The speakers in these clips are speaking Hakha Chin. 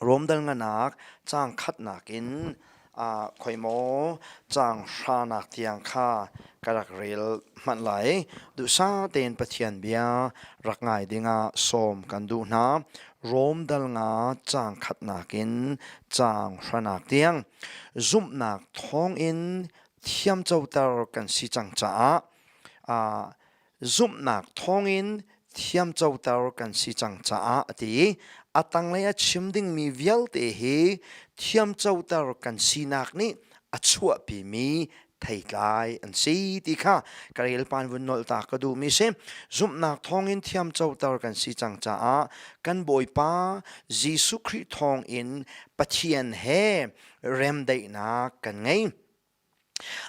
Rom danganak caang khatnak in ah khoi maw caang hranak tiang kha ka rak rel manh lai. Duhsa tein Pathian bia rak ngai dingah sawm kan duh hna. Rom dal nga caang khatnak in caang hranak tiang zumhnak thawng in thiamcoter kan si cang caah ah zumhnak thawngin thiamcoter kan si cang caah a ti i a tanglei a chim dingmi vialte hi thiamcoter kan sinak nih a chuahpimi theitlai an si ti kha ka relpan vun nolta ka duhmi si zumhnak thawngin thiamcoter kan si cang caah kan bawipa Jesuh Khrih thawngin Pathian he remdaihnak kan ngei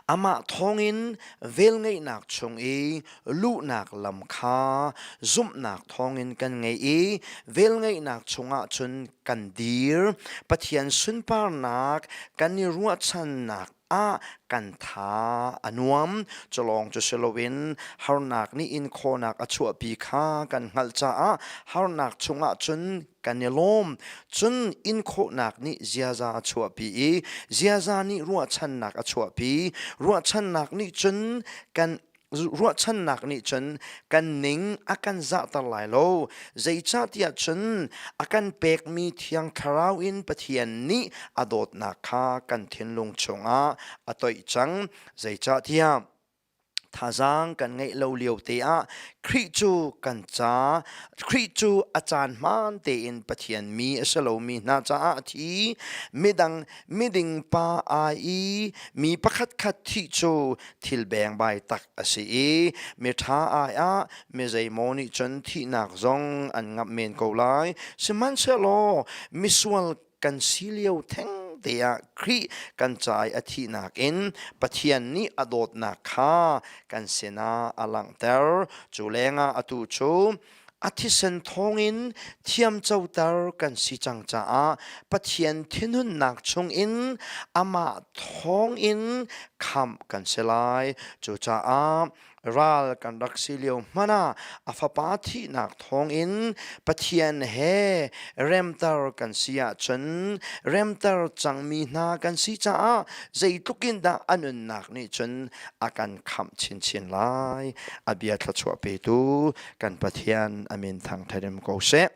Amah thawngin velngeihnak chung i luhnak lam kha zumhnak thawngin kan ngei i velngeihnak chungah cun kan dir. Pathian sunparnak kan i ruahchannak ah kan tha a nuam. Culawng cu si loin harnak nih inkhawhnak a chuahpi kha kan hngalh caah harnak chungah cun kan i lawm. Cun inkhawhnak nih ziaza a chuahpi i ziaza nih ruahchannak a chuahpi. Ruahchannak nih cun kan ruahchannak nih cun kan ning a kan zahter lai lo. Zeicahtiah cun a kan pekmi thiang thlarau in Pathian nih a dawtnak kha kan thinlung chungah a toih cang. Zeicahtiah Thazaang kan ngeih lo lio te ah Khrih cu kan ca, Khrih cu a caan hmaan tein Pathian mi a si lomi hna caah thi, midang miding pa ai i mi pakhatkhat thih cu thil bengbai tak a si i miṭha ai ah mi zeimaw nih cun thihnak zong an ngamh men ko lai. Sihmanhsehlaw misual kan si lio thengte ah Khrih kan cai a thihnak in Pathian nih a dawtnak kha kan sinah a langhter. Cu lengah atu cu a thisen thawngin thiamcoter kan si cang caah Pathian thinhunnak chungin amah thawngin khamh kan si lai. Cucaah ral kan rak si lio hmanh ah a fapa thihnak thawngin Pathian he remter kan si ahcun remter cangmi hna kan si caah zeitluk in dah a nunnak nih cun a kan khamh chinchin lai a bia thluachuah petu kan Pathian amin thang therim ko seh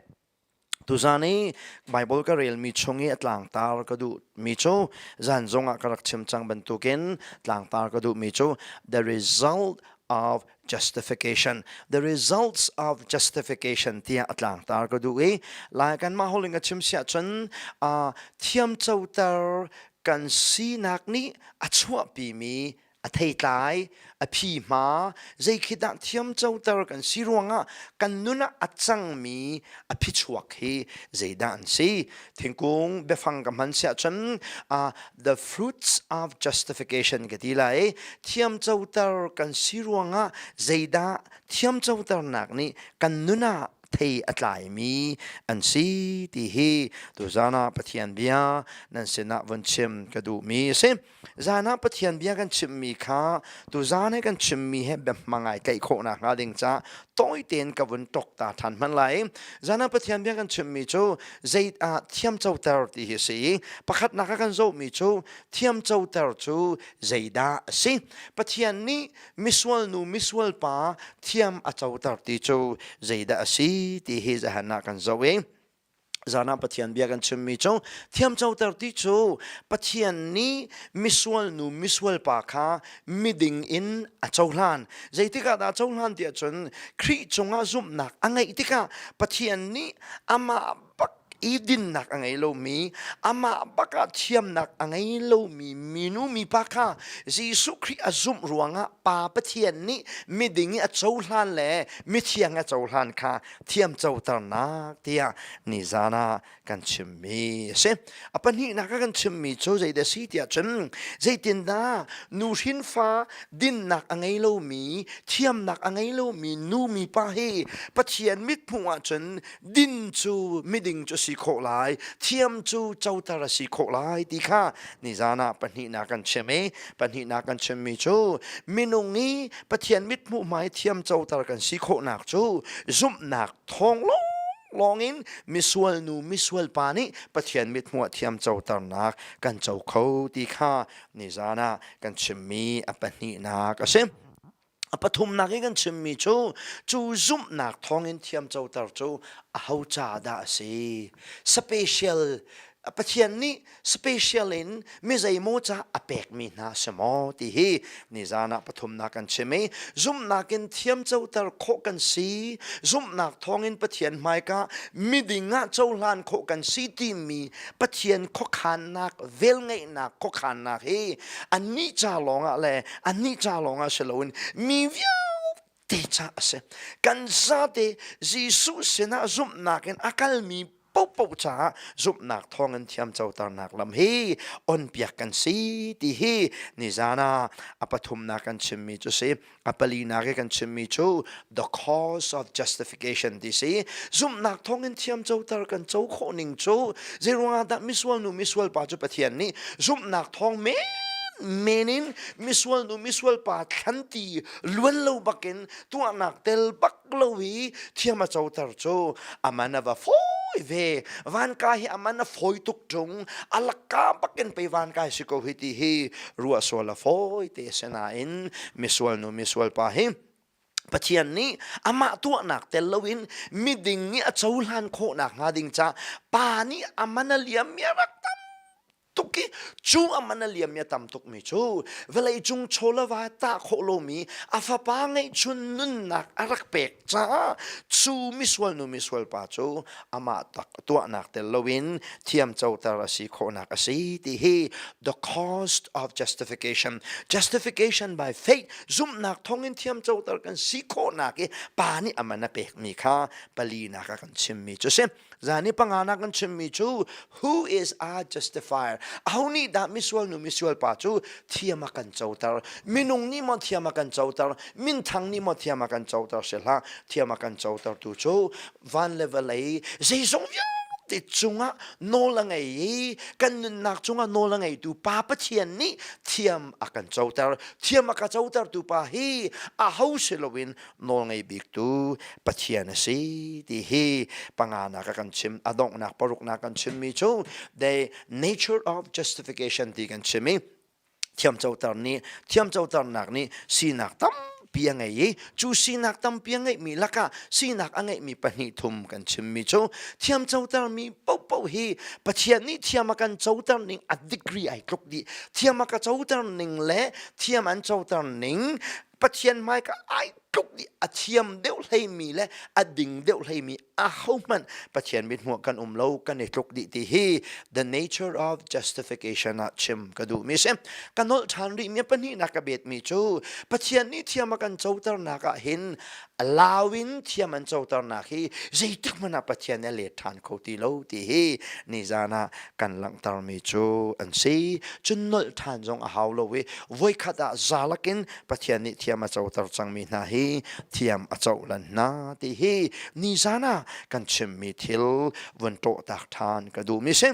Tuzaan i Baibal ka relmi chung i a tlangtar ka duhmi cu zan zongah ka rak chim cang bantukin tlangtar ka duhmi cu the result of justification. The results of justification tiah a tlangtar ka duh i lai kanmah holh in ka chim siah cun uh, thiamcoter kan sinak nih a chuahpimi a theitlai a phi hma zei khi dah thiam coter kan si ruangah kan nun ah a cangmi a phichuak hi zeidah an si thingkung biafang ka hman siah cun uh, the fruits of justification ka ti lai thiam coter kan si ruangah zeidah thiam coternak nih kan nun ah thei a tlaimi an si ti hi tuzana pathian bia nan sinah vun chim ka duhmi a si Zan ah Pathian bia kan chimmi kha tuzan he kan chimmi he biahmang ai tlaih khawh nakhnga ding caah tawi tein ka vun tok ta than hman lai. Zan ah Pathian bia kan chimmi cu zei ah thiam coter ti hi a si i pakhatnak a kan zohmi cu thiam coter cu zeidah a si. Pathian nih misual nu misual pa thiam a coter ti cu zeidah a si ti hi zahan ah kan zoh i Zan ah Pathian bia kan chimmi cu thiamcoter ti cu Pathian nih misual nu misual pa kha miding in a cohlan. Zeitikah dah a cohlan tiah cun Khrih cungah zumhnak a ngeih tikah Pathian nih amah bak i dinnak a ngei lomi, amah bakah thiamnak a ngei lomi minu mipa kha Jesuh Khrih a zumh ruangah Pa Pathian nih miding i a cohlan le mithiang i a cohlan kha thiamcoternak tiah nizan ah kan chimmi a si. A pahnihnak ah kan chimmi cu zeidah a si tiah cun zeitindah nuhrin fa dinnak a ngei lomi thiamnak a ngei lomi nu mipa hi Pathian mithmuh ahcun din cu miding cu si khawh lai thiam cu coter a si khawh lai ti kha nizan ah pahnihnak kan chim i pahnihnak kan chimmi cu minung i Pathian mithmuh hmai thiamcoter kan si khawhnak cu zumhnak thawng lawng in misual nu misual pa nih Pathian mithmuh ah thiamcoternak kan co kho ti kha nizan ah kan chimmi a pahnihnak a si. A pathumnak i kan chimmi cu cu zumhnak thawngin thiamcoter cu a ho ca dah a si special Pathian nih special in mi zeimaw ca a pekmi hna si maw ti hi nizan ah pathumnak kan chim i zumhnak in thiamcoter khawh kan si zumhnak thawngin pathian hmaika miding ah cohlan khawh kan si timi pathian khuakhannak velngeihnak khuakhannak hi anih ca lawngah le anih ca lawngah si loin mi vialte ti ca a si kan zate Jesuh sinah zumhnak in a kalmi popo caah zumhnak thawngin thiamcoternak lam hi onpiak kan si ti hi nizan ah a pathumnak kan chimmi cu si a palinak i kan chimmi cu the cause of justification ti si zumhnak thawngin thiamcoter kan co khawh ning cu zeiruangah dah misual nu misual pa cu pathian nih zumhnak thawng men in misual nu misual pa thlanti luan lo bakin tuahnak tel bak lo i thiam a coter cu aman a va foi ve van ka hi aman a foi tuk tung alaka bakin pei van ka si ko hi ti hi ruah sual a foi te sinain misual nu misual pa hi Pathian nih amah tuahnak tel loin miding i a cohlan khawhnak hnga ding ca pa nih aman a liam mi a rak tuk i cu aman a liam mi a tam tuk mi cu vawlei cung chawlava tah khawh lomi a fapa ngeihchun nunnak a rak pek caah cu misual nu misual pa cu amah tak tuahnak tel loin thiamcoter a si khawhnak a si ti hi the cost of justification justification by faith zumhnak thawngin thiamcoter kan si khawhnak i pa nih aman a pek mi kha palinak a kan chim mi cu si Zan i panga nak an chimmi cu who is a justifier aho nih dah misual nu misual pa cu thiam a kan coter minung nih maw thiam a kan coter minthang nih maw thiam a kan coter si hlah thiam a kan coter tu cu van le vawlei zeizong vialte cungah nawl a ngei i kan nunnak cungah nawl a ngeitu pa Pathian nih thiam a kan coter thiam a ka cotertu pa hi aho si loin nawlngei biktu Pathian a si ti hi panganak a kan chim a donghnak paruknak kan chimmi cu the nature of justification ti kan chim i thiamcoter nih thiamcoternak nih sinak tampi a ngei i cu sinak tampi a ngeihmi lakah sinak a ngeihmi pahnih thum kan chimmi cu thiam cotermi paohpaoh hi Pathian nih thiam a kan coter ning a degree ai tluk dih thiam a ka coter ning le thiam an coter ning Pathian hmai ka ai tluk i a thiam deuh hleimi le a ding deuh hleimi a hohmanh Pathian mit hmuh kan um lo kan i tluk dih ti hi the nature of justification ah chim ka duh mi si ka nolh than rih mi pahnihnak ka bet mi cu Pathian nih thiam a kan coternak ah hin a lau in thiam an coternak hi zeitik hmanh ah Pathian nih a let ṭhan kho ti lo ti hi nizan ah kan langhtermi cu an si. Cun nolh ṭhan zong a hau lo i voikhat ah zalak in Pathian nih thiam a coter cangmi hna hi thiam a cohlan hna ti hi nizan ah kan chimmi thil vun ṭawhtak ṭhan ka duhmi si.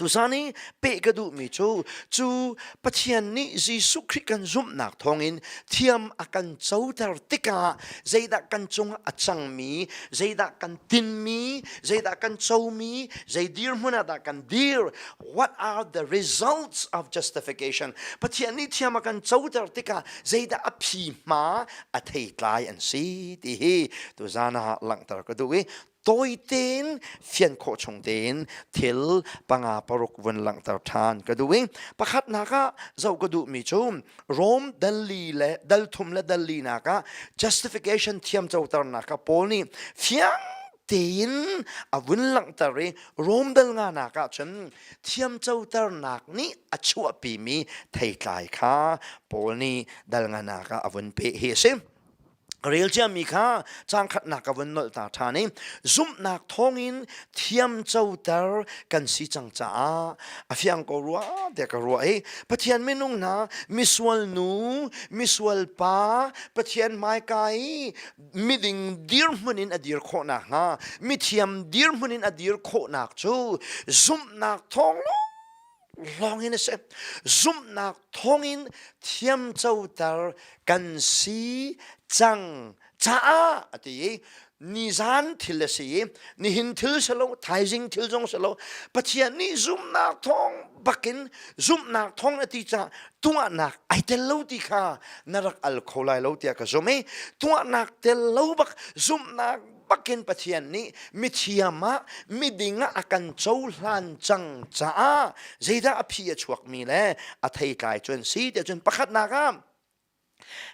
Tusan i peh ka duhmi cu cu Pathian nih Jesuh Khrih kan zumhnak thawngin thiam a kan coter tikah zeidah kan cungah a cangmi, zeidah kan tinmi, zeidah kan comi, zei dirhmun ah dah kan dir, what are the results of justification. Pathian nih thiam a kan coter tikah zeidah a phi hma a thei tlai an si ti hi tuzan ah langhter ka duh i tawi tein fian khawh chung tein thil panga paruk vun langhter ṭhan ka duh i pakhat nak ah zoh ka duhmi cu Rome dali le dalthum le dalinak ah justification thiam coternak ah Paul nih fiang tein a vun langhter i Rome dal nga nak ah cun thiamcoternak nih a chuahpimi theitlai kha Paul nih dal nga nak ah a vun peh hi a si. rel ciami kha cangkhatnak ka vun nolh ta ṭhan i zumhnak thawngin thiamcoter kan si cang caah a fiang ko rua te ka ruah i Pathian minung hna misual nu misual pa Pathian hmaika i miding dirhmun in a dir khawhnak hnga mithiam dirhmun in a dir khawhnak cu zumhnak thawng lawng in a si zumhnak thawngin thiamcoter kan si cang caah a ti i nizan thil a si i nihin thil si lo thaizing thil zong si lo pathian nih zumhnak thawng bakin zumhnak thawng a ti caah tuahnak ai tel lo ti kha na rak al kho lai lo tiah ka zumh i tuahnak tel lo bak zumhnak pakin pathian nih mithiam ah miding ah a kan cohlan cang caah zeidah a phi a chuakmi le a thei tlai cun si te cun pakhatnak ah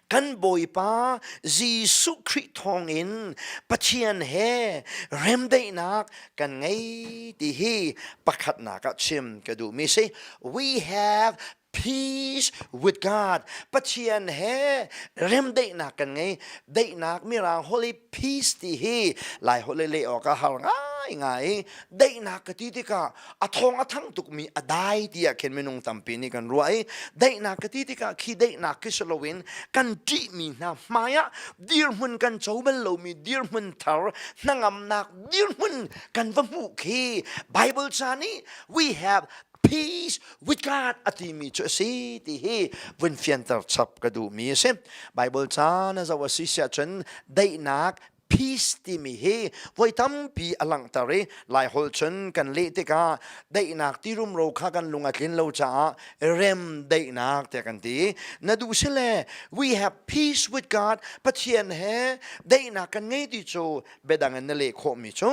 kan bawipa Jesuh Khrih thawngin Pathian he remdaihnak kan ngei ti hi pakhatnak ah chim ka duhmi si we have peace with God Pathian he remdaihnak kan ngei daihnak mirang holy peace ti hi lai holh le awk a har ngai ngai daihnak ka ti tikah a thong a thang tukmi a dai tiah khin minung tampi nih kan ruah i daihnak ka ti tikah khi daihnak khi si loin kan ṭihmi hna hmaiah dirhmun kan co bal lomi dirhmun thar hnangamnak dirhmun kan va hmuh khi Bible cha nih we have peace with God a timi cu a si ti hi vun fianter chap ka duhmi a si. Bible ca na zo a si siah cun daihnak peace timi hi voi tampi a langhter i lai hol chun kan leh tikah daihnak ti rumro kha kan lung a tlin lo caah rem daihnak te kan ti na duh si le we have peace with God Pathian he daihnak kan ngei ti cu biadang in na leh khawhmi cu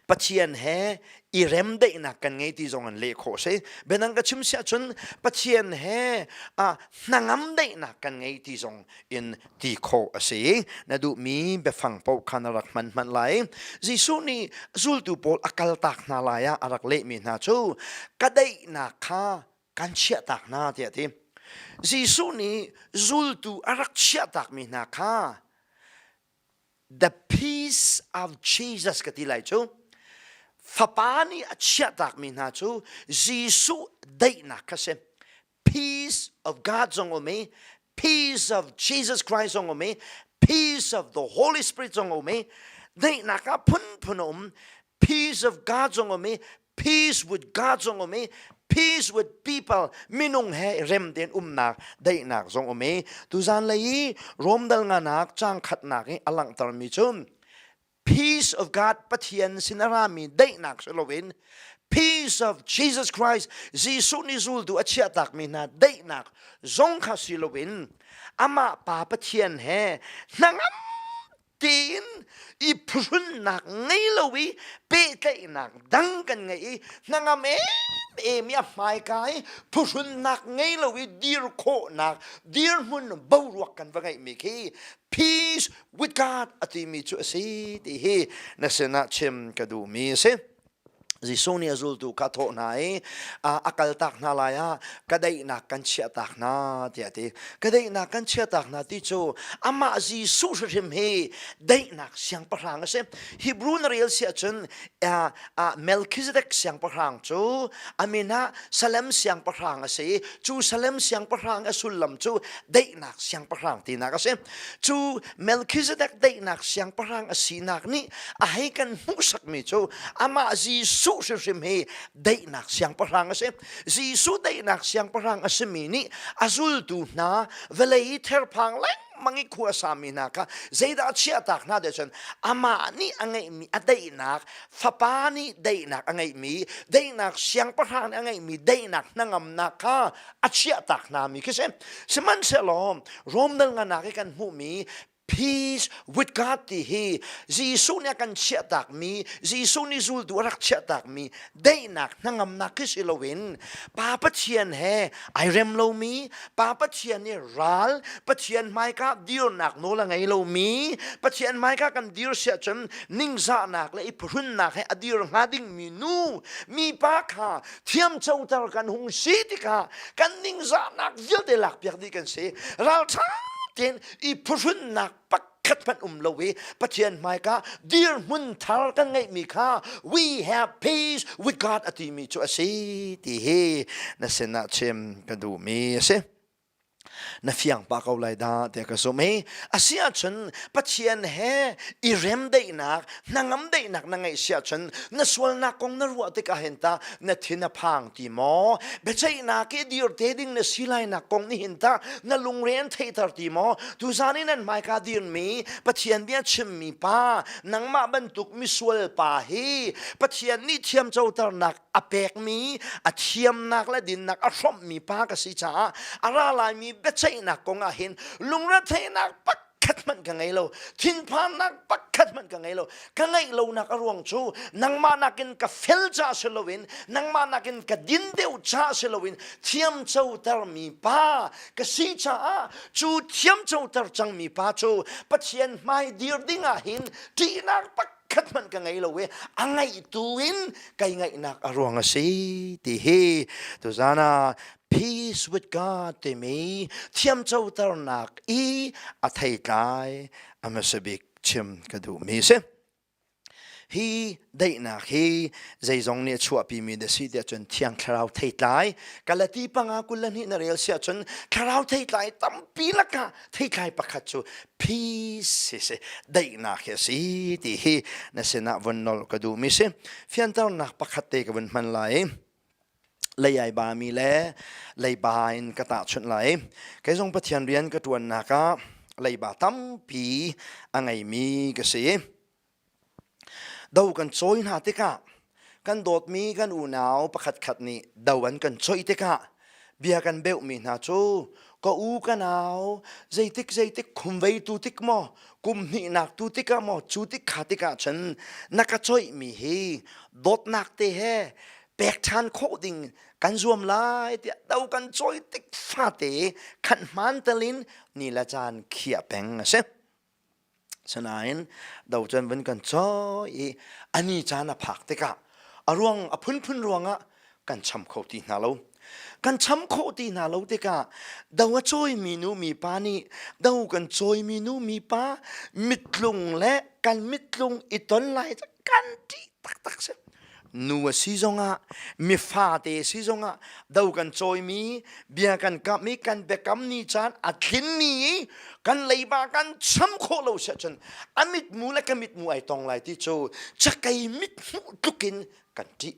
Pathian he i remdaihnak kan ngei ti zong in leh khawh si. Benang ka chim siah cun Pathian he uh, hnangam daihnak kan ngei ti zong in ti khawh a si. Na duhmi biafang pau khan a rak hman hman lai. Jesuh nih zultu pawl a kaltak hna lai ah a rak lehmi hna cu ka daihnak kha kan chiahtak hna tiah ti. Jesuh nih zultu a rak chiahtakmi hna kha The peace of Jesus ka ti lai cu fapa nih a chiahtakmi hna cu Jesuh daihnak kha si peace of God zong um i peace of Jesus Christ zong um i peace of the Holy Spirit zong um i daihnak ah phunphun a um peace of God zong um i peace with God zong um i peace with people minung he rem tein umnak daihnak zong um i tuzan lei i romdal nganak cang khatnak i a langhtermi cu peace of God Pathian sin a rami daihnak si loin peace of Jesus Christ Jesuh nih zultu a chiahtakmi hna daihnak zong kha si loin amah pa Pathian he hnangam tiin i phuhrunnak ngei lo i pehtlaihnak dang kan ngei i hnangam em em i a hmaika i phuhrunnak ngei lo i dir khawhnak dirhmun boruak kan va ngeihmi khi peace with God a timi cu a si ti hi na sinah chim ka duhmi a si. Jesuh nih a zultu kha a thawh hna i a kaltak hna lai ah ka daihnak kan chiahtak hna tiah a ti. Ka daihnak kan chiahtak hna ti cu amah Jesuh hrim hi daihnak siangpahrang a si. Hebrew na rel si ahcun Melchizedek siangpahrang cu a min ah Salem siangpahrang a si i cu Salem siangpahrang a sullam cu daihnak siangpahrang tinak a si. Cu Melchizedek daihnak siangpahrang a sinak nih a hei kan hmuhsakmi cu amah Jesuh hrim hi daihnak siangpahrang a si. Jesuh daihnak siangpahrang a simi nih a zultu hna vawlei i therphang lengmang i khua sami hna kha zeidah a chiahtak hna te cun amah nih a ngeihmi a daihnak fapa nih daihnak a ngeihmi daihnak siangpahrang nih a ngeihmi daihnak hnangamnak kha a chiahtak hna mi khi si sihmanhsehlaw Rome dal nganak i kan hmuhmi peace with God ti hi Jesuh nih a kan chiahtak mi Jesuh nih zultu a rak chiahtak mi daihnak hnangamnak khi si loin Pa Pathian he ai rem lomi Pa Pathian nih ral Pathian hmaika dirnak nawl a ngei lomi Pathian hmaika kan dir si ahcun ningzahnak le i phuhrunnak he a dir hnga dingmi nu mipa kha thiamcoter kan hung si tikah kan ningzahnak vialte lakpiak dih kan si ralṭha tein i phuhrunnak pakhat hmanh um lo i Pathian hmaika dirhmun thar kan ngeihmi kha we have peace with God a timi cu a si ti hi na sinah chim ka duhmi a si. na fiang pa ko lai da te ka zum hi asi ahcun pathian he i remdaihnak hnangam daihnak na ngeih si ahcun na sualnak kong na ruah tikah hin ta na thin a phang ti maw biaceihnak i dir te ding na si lainak kong nih hin ta na lungre an theihter ti maw tuzan in an hmaika dirmi pathian bia chimmi pa nangmah bantuk misual pa hi pathian nih thiamcoternak a pekmi a thiamnak le dinnak a hrawmhmi pa ka si caah a ra laimi biaceihnak kong ah hin lungretheinak pakhat hmanh ka ngei lo thinphannak pakhat hmanh ka ngei lo ka ngeih lonak a ruang cu nangmah nakin ka fel ca si loin nangmah nakin ka din deuh ca si loin thiamcotermi pa ka si caah cu thiamcoter cangmi pa cu Pathian hmai dir dingah hin ṭihnak pakhat khat hmanh ka ngei lo i a ngeitu in kai ngaihnak a ruang a si ti hi tuzana peace with God timi thiamcoternak i a theitlai a masabik chim ka duhmi si hi daihnak hi zeizong nih a chuahpimi da si tiah cun thiang thlarau theitlai kalati panga kul hnih na rel siah cun thlarau theitlai tampi laka Theithlai pakhat cu peace hi si daihnak hi a si ti hi na sinah vun nol ka duhmi si fianternak pakhat te ka vun hman lai lei ai ba mi le leiba in ka tahchunh lai kei zong pathian rian ka ṭuannak ah leiba tampi a ngei mi ka si Do kan cawi hna tikah kan dawtmi kan unau pakhatkhat nih do an kan choih tikah bia kan beuhmi hna cu ka u ka nau zeitik zeitik khum veitu tik maw kum hnihnak tu tikah maw cu tik kha tikah cun na ka choihmi hi dawtnak te he pek ṭhan khawh ding kan zuam lai tiah do kan choi tik fate khat hman talin ni le caan khiah peng a si. Sinain docen vun kan cawi i a ni caan a phak tikah a ruang a phunphun ruangah kan cham kho ti hna lo. Kan cham khawh ti hna lo tikah do a cawimi nu mipa nih do kan cawimi nu mipa mitlung le kan mitlung i ton lai kan ṭih taktak si nu a si zongah mifate si zongah do kan cawimi bia kan kamh i kan biakam ni caan a tlinmi i kan leiba kan cham khawh lo si ahcun a mitmu le ka mitmu ai tong lai ti cu cakei mithmuh tlukin kan ṭih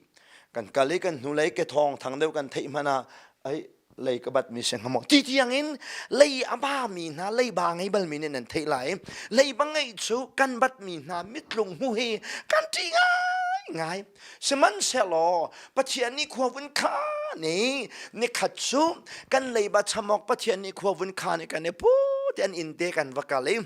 kan kal i kan hnulei ke thawng thang deuh kan theih hmanh ah ai lei ka bat mi se ngamong ti tiang in lei a ba mi hna lei ba ngei bal mi nih nan theih lai lei ba ngei cu kan bat mi hna mitlung mu hi kan ti ngai ngai sihmanhsehlaw pathian nih khua vun kha ni ni khat cu kan leiba chamok pathian nih khua vun kha ni kan i pu te an in te kan va kal i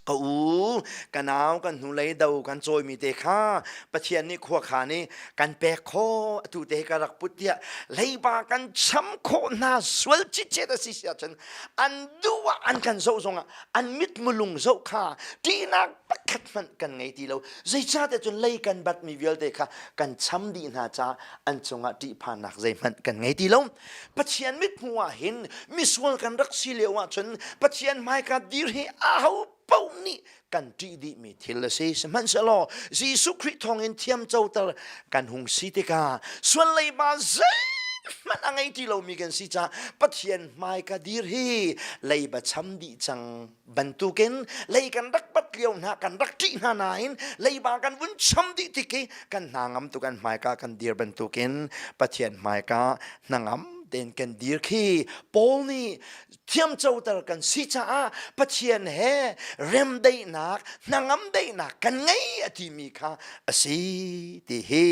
Ka u, ka nau, kan hnulei do kan cawimi te kha Pathian nih khuakhan i kan pek khawh atu te ka rak put tiah leiba kan cham khawh hna sual cicet a si si ahcun an duh ah an kan zoh zongah an mitmulung zoh kha ṭihnak pakhat hmanh kan ngei ti lo. Zeicahte cun lei kan batmi vialte kha kan cham dih hna caah an cungah ṭihphannak zeihmanh kan ngei ti lo. Pathian mithmuh ah hin misual kan rak si lio ahcun Pathian hmaika dir hi aho paoh nih kan ṭih dihmi thil a si sihmanhsehlaw Jesuh Khrih thawngin thiam coter kan hung si tikah sualleiba zeihmanh a ngei ti lomi kan si caah Pathian hmaika dir hi leiba cham dih cang bantukin lei kan rak pat lio hna kan rak ṭih hna nain leiba kan vun cham dih tik i kan hna ngam tu kan hmaika kan dir bantukin pathian hmaika hnangam den kan dir khi Paul nih thiam coter kan si caah pathian he remdaihnak hnangam daihnak kan ngei a timi kha a si ti hi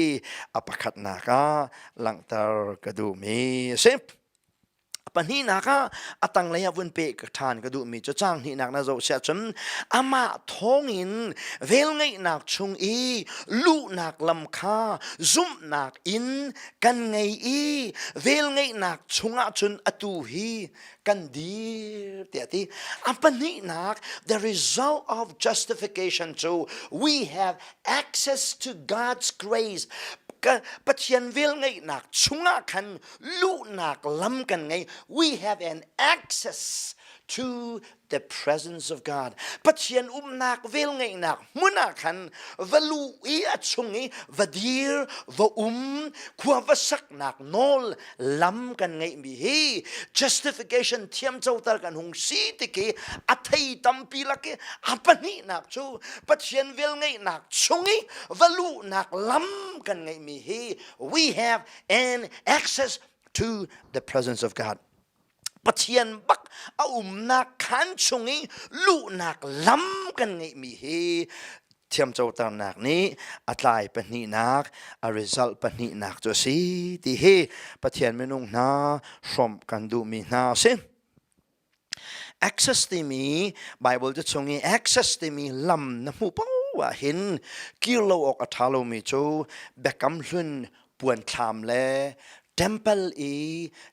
a pakhatnak ah langhter ka duhmi a si. Pahnihnak ah a tanglei ah vun pe ka ṭhan ka duhmi cu caang hnihnak na zoh siah cun amah thawngin velngeihnak chung i luhnak lam kha zumhnak in kan ngei i velngeihnak chungah cun atu hi kan dir tiah ti a pahnihnak the result of justification cu we have access to God's grace Pathian velngeihnak chungah khan luhnak lam kan ngei we have an access to the presence of God Pathian umnak vel ngeihnak hmun ah khan va lu i a chung i va dir va um khua va saknak nawl lam kan ngeih mi hi justification thiam coter kan hung si tiki a thei tampi lak i a pahnihnak cu Pathian vel ngeihnak chung i va luhnak lam kan ngeih mi hi we have and access to the presence of God. Pathian bak a umnak khan chung i luhnak lam kan ngeihmi hi thiamcoternak nih a tlai pahnihnak a result pahnihnak cu a si ti hi Pathian minung hna hrawmh kan duhmi hna a si. access timi bible te chung i access timi lam na hmu poah hin kir lo awk a ṭha lomi cu biakam hlun puanthlam le temple i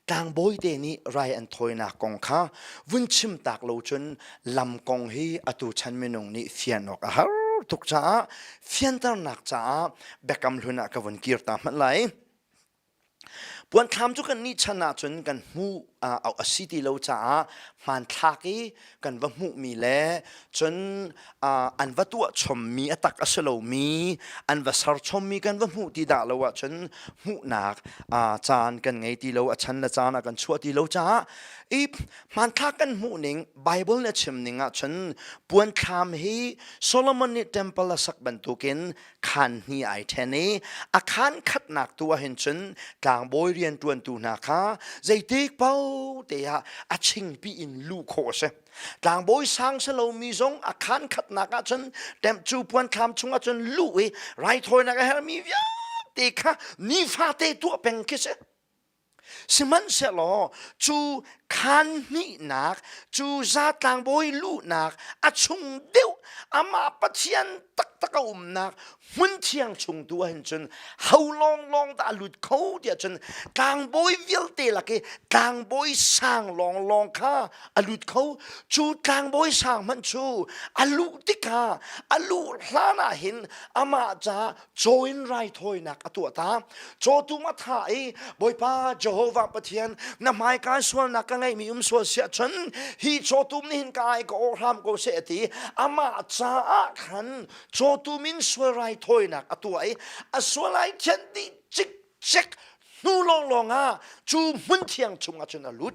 tlangbawi te nih rai an thawinak kong kha vun chim tak lo cun lam kong hi atu chan minung nih fian awk a har tuk caah fianternak caah biakam hlun ah ka vun kir ta hmanh lai Puanthlam cu kan nih chan ahcun kan hmuh a si ti lo caah hmanthlak i kan va hmuhmi le cun an va tuah chommi a tak a si lomi an va ser chommi kan va hmuh ti dah lo ahcun hmuhnak caan kan ngei ti lo a chan le caan a kan chuah ti lo caah i hmanthlak kan hmuhning Bible nih a chim ning ahcun puanthlam hi Solomon nih temple a sak bantukin khan hni ai ṭhen i a khan khatnak tu ahhin cun tlangbawi rianṭuantu hna kha zeitik paote ah a chingpi in luh khawh a si tlangbawi sang si lomi zong a khan khatnak ah cun temp cu puan thlam chungah cun luh i raithawinak a hermi vialte kha nifate tuah peng khi si Sihmanhsehlaw cu khan hnihnak cu zatlang bawi luhnak a chung deuh amah Pathian taktak a umnak hmun thiang chung tu ahhin cun ho lawnglawng dah a lut kho tiah cun tlangbawi vialte lak i tlangbawi sang lawnglawng kha a lut kho cu tlangbawi sang hmanh cu a luh tikah a luh hlan ahhin amah ca caw in raithawinak a tuahta caw tum a tha i bawipa jehovah pathian na hmaikai sualnak ka ngeihmi um sual siah chun hi caw tum nih hin ka ai ka ohram ko seh ati amah caah khan caw tum in sual raithawinak a tuah i a sual ai khen ti cik chek hnu lawnglawng ah cu hmun thiang chung ah cun a lut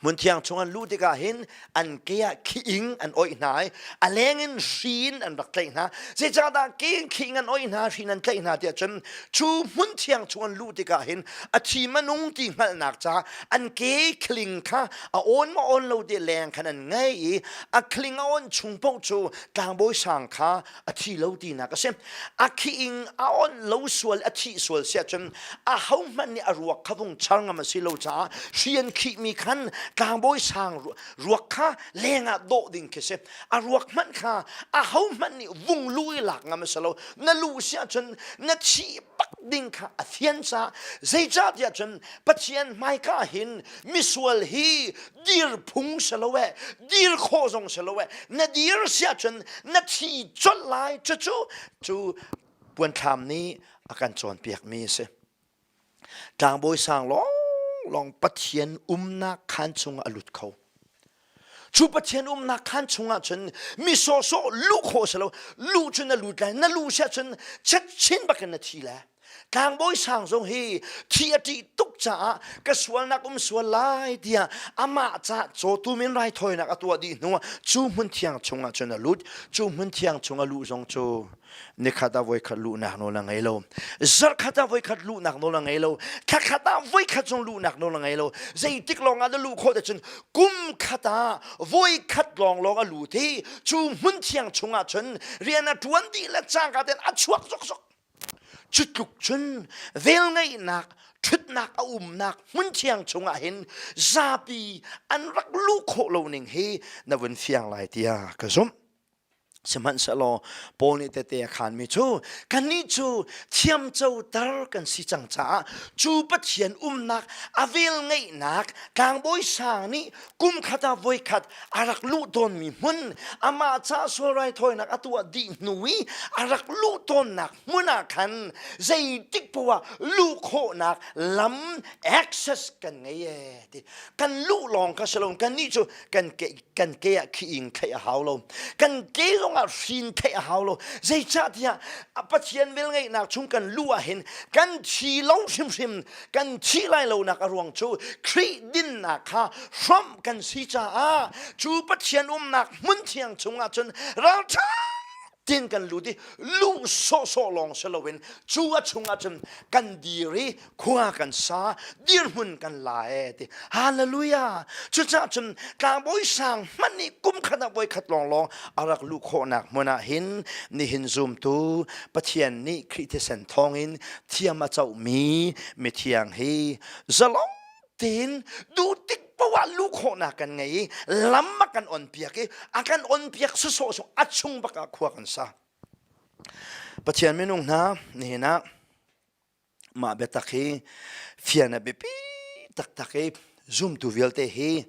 Hmunthiang chungah luh tikah hin an ke ah khiing an oih hna i a leng in hrin an rak tlaih hna. Zeicahdah ke in khiing an oih hna, hrin an tlaih hna tiah cun cu hmunthiang chungah luh tikah hin a thim a nung ti hngalhnak caah an ke khling kha a on maw on lo ti leng khan an ngei i a khling a on chung paoh cu tlangbawi sang kha a thi lo tinak a si a khi ing a on lo sual a thi sual si ahcun a ho hmanh nih a ruak kha vung char ngam a si lo caah rian khih mi khan tlangbawi sang ruak kha leng ah dawh ding khi si a ruak hmanh kha a ho hmanh nih vung lu i lak ngam a si lo na lu si ahcun na thi pak ding kha a thian sa zeicah tiah cun pathian hmaika hin misual hi dir phung si lo e dir kho zong si lo e na dir sia cun na thi chol lai cu cu cu puanthlam nih a kan cawnpiak mi a si tlangbawi sang long long pathian umnak khan chung a lut kho cu pathian umnak khan chungah cun mi sawsawh lu kho si lo lu cun na lut lai na lu sia cun chet chin bakin na thi lai Tlangbawi sang zong hi thi a ṭih tuk caah ka sualnak um sual lai tiah amah ca cawtu min rai thawinak a tuah dih hnuah cu hmun thiang chungah cun a lut cu hmun thiang chungah luh zong cu nikhat ah voikhat luhnak nawl a ngei lo zarhkhat ah voikhat luhnak nawl a ngei lo thla khat ah voikhat zong luhnak nawl a ngei lo zeitik lawng ah dah luh khawh ahcun kum khat ah voikhat lawng lawng a lut i cu hmun thiang chungah cun rian a ṭuan dih le cangka ten a chuak soksok Cu tluk cun velngeihnak, ṭhutnak a umnak hmun thiang chungah hin zapi an rak luh khawh lo ning hi na vun fiang lai tiah ka zumh. Sihmanhsehlaw Paul nih tete a khanmi cu kannih cu thiamcoter kan si cang caah cu Pathian umnak a velngeihnak tlangbawi sang nih kum khat ah voi khat a rak luh tawnmi hmun amah ca sual raithawinak a tuah dih hnu i a rak luh tawnnak hmun ah khan zeitik poah luh khawhnak lam access kan ngei e ti kan luh lawng ka si lo kan nih cu kan ke kan ke ah khi ing theih a hau lo kan ke zong ah hrin theih a hau lo zeicah tiah a pathian vel ngeihnak chung kan luh ah hin kan thi long hrimhrim kan thih lai lonak a ruang cu Khrih dinnak kha hrawmh kan si caah cu Pathian umnak hmun thiang chungah cun ralṭha tin kan lut i luh sawhsawh lawng si loin cu a chungah cun kan dir i khua kan sa dirhmun kan la e ti hallelujah cucah cun tlangbawi sang hman nih kum khat ah voi khat lawng lawng a rak luh khawhnak hmun ah hin nihin zumtu Pathian nih Khrih thisen thawngin thiam a comi mithiang hi zalong tein duhtik poah lu khawhnak kan ngei i lam a kan on piak i a kan on piak si sawh sawh a chung bak ah khua kan sa pathian minung hna nihin ah mah biatak hi fian a biapi taktak i zumtu vialte hi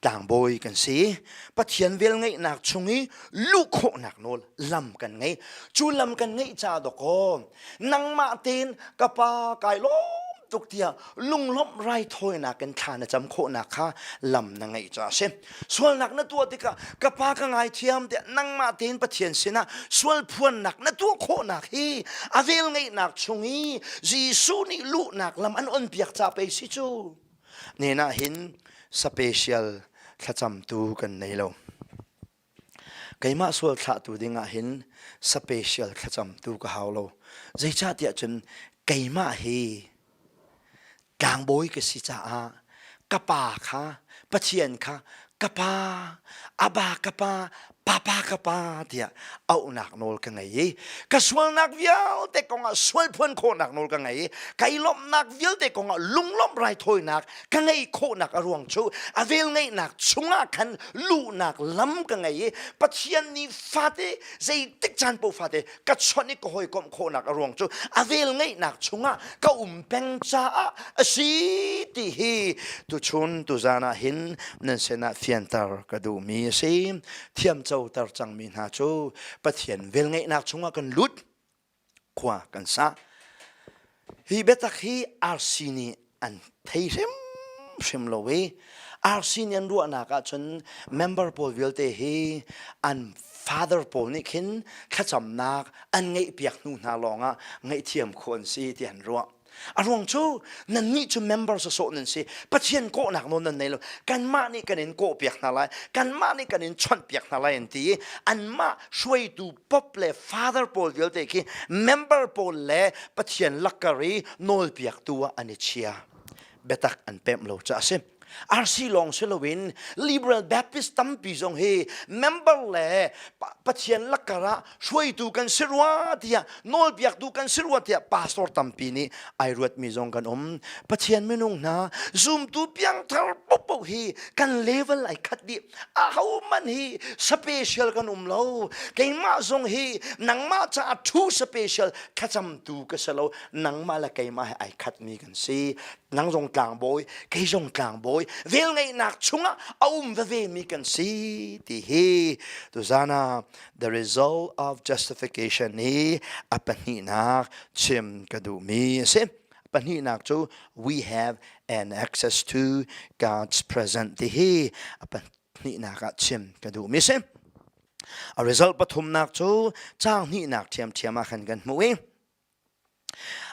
tlangbawi kan si pathian vel ngeihnak chung i luh khawhnak nawl lam kan ngei cu lam kan ngeih ca dawkaw nangmah tein ka pa kai lawm tuk tiah lunglawmh raithawinak kan thla na cam khawhnak kha lam na ngeih ca a si sualnak na tuah tikah ka pa ka ngaithiam tiah nangmah tein pathian sinah sual phuannak na tuah khawhnak hi a vel ngeihnak chung i Jesuh nih luhnak lam an on piak ca pei si cu Hnen ah hin special thlacamtu kan nei lo. Keimah sual thlahtu ding ah hin special thlacamtu ka hau lo. Zeicahtiah cun keimah hi tlangbawi ka si caah ka pa kha Pathian kha ka pa, Aba ka pa, papa ka pa tiah auhnak nawl ka ngei i ka sualnak vialte kongah sual phuan khawhnak nawl ka ngei i ka i lawmhnak vialte kongah lunglawmh raithawinak ka ngeih khawhnak a ruang cu a velngeihnak chungah khan luhnak lam ka ngei i pathian nih fate zeitik caan paoh fate ka chonh i ka hawikomh khawhnak a ruang cu a vel ngeihnak chungah ka um peng caah a si ti hi tuchun tuzan ah hin nan sinah fianter ka duhmi a si thiamco ter cangmi hna cu pathian vel ngeihnak chungah kan lut khua kan sa Hi biatak hi RC nih an thei hrimhrim lo i RC nih an ruahnak ahcun member pawl vialte hi an father pawl nih khin thlacamnak an ngeihpiak hnu hna lawngah ngaihthiam khawh an si ti an ruah. A ruang cu nannih cu member sawsawh nan si Pathian kawhnak nawl nan nei lo kanmah nih kan in kawhpiak hna lai kanmah nih kan in chawnhpiak hna lai an ti i anmah hruaitu pop le father pawl vialte khi member pawl le pathian lakkari nawlpiak tu ah an i chia biatak an pem lo ca a si RC lawng si loin Liberal Baptist tampi zong hi member le pathian lakkar ah hruaitu kan si rua tiah nawlpiaktu kan si rua tiah pastor tampi nih ai ruatmi zong kan um pathian minung hna zumtu piangthar popo hi kan level ai khat dih ahohmanh hi special kan um lo keimah zong hi nangmah caah thu special thlacamtu ka si lo nangmah le keimah he ai khatmi kan si nang zong tlangbawi kei zong tlangbawi velngeihnak chungah a um vevemi kan si ti hi tuzana the result of justification hi a pahnihnak chim ka duhmi a si Pahnihnak cu we have an access to God's present ti hi a pahnihnak ah chim ka duh mi si. A result pathumnak cu caang hnihnak thiamthiam ah khan kan hmuh i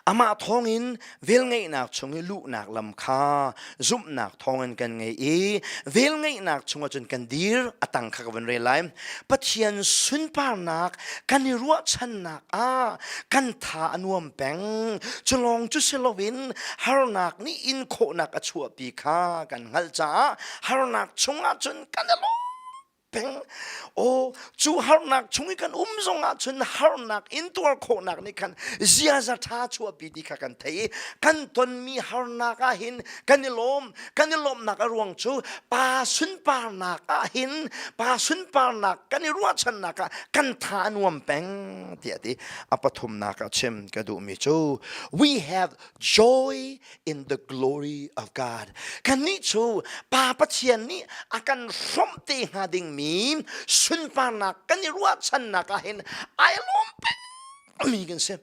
amah thawngin velngeihnak chung i luhnak lam kha zumhnak thawngin kan ngei i velngeihnak chungah cun kan dir atang kha ka van rel lai pathian sunparnak kan i ruahchannak ah kan tha a nuam peng cu lawng cu si loin harnak nih in khawhnak a chuahpi kha kan hngalh caah harnak chungah cun kan i lawm peng oh cu harnak chung i kan um zong ah cun harnak intuar khawhnak nih khan ziaza ṭha chuahpi ti kha kan thei i kan tonmi harnak ah hin kan i lawm kan i lawmhnak a ruang cu pa sunparnak ah hin pa sunparnak kan i ruahchannak ah kan tha a nuam peng tiah ti a pathumnak a chim ka duhmi cu we have joy in the glory of God. Kannih cu Pa Pathian nih a kan hrawmh te hnga dingmi sunparnak kan i ruahchannak ah hin ai lawm pengmi kan si.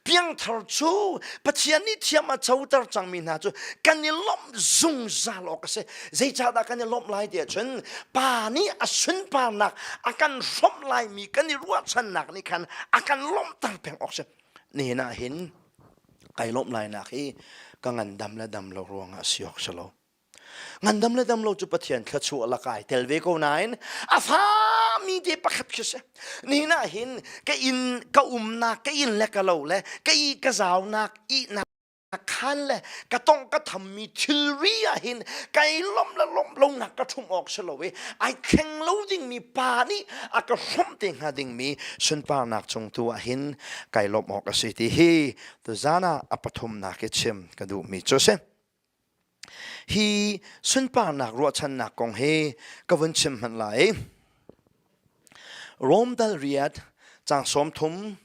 Piangthar cu Pathian nih thiam a coter cangmi hna cu kan i lawmh zungzal awk a si. Zeicahdah kan i lawmh lai tiah cun Pa nih a sunparnak a kan hrawmh laimi kan i ruahchannak nih khan a kan lawmhter peng awk a si. Nihin ah hin kai lawmh lainak hi ka ngandam le dam lo ruangah si awk si lo ngandam le dam lo cu pathian thlachu a lakai tel ve ko nain a fami te pakhat khi si nihna hin ka in ka umnak ka in le ka lo le ka i ka zaunak ihnak khan le ka tong ka thammi thilri ah hin kai lom le lom lonak ka thum awk si lo i ai thleng lo dingmi pa nih a ka hrawm te hnga dingmi sunparnak cung tu ah hin kai lawmh awk a si ti hi tuzan ah a pathumnak i chim ka duhmi cu si hi sunparnak ruahchannak kong hi ka vun chim hmanh lai Rome dal riat cang som thum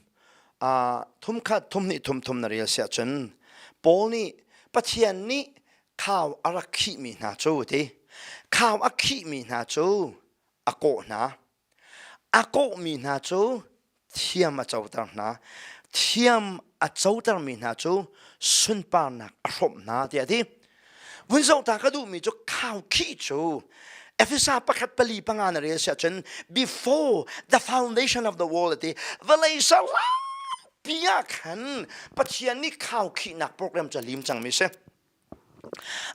a thum khat thum ni thum thum na rel sia chun Paul nih Pathian nih khau a rak khih mi hna cu ti khau a khih mi hna cu a kawh hna A kawhmi hna cu thiam a coter hna. Thiam a cotermi hna cu sunparnak a hrawmh hna tiah a ti. Vun zohta ka duhmi cu khau khih cu Efesa pakhat pali panga na rel si ahcun before the foundation of the world ati vawlei saupi ah khan Pathian nih khau khihnak program cu a lim cangmi a si.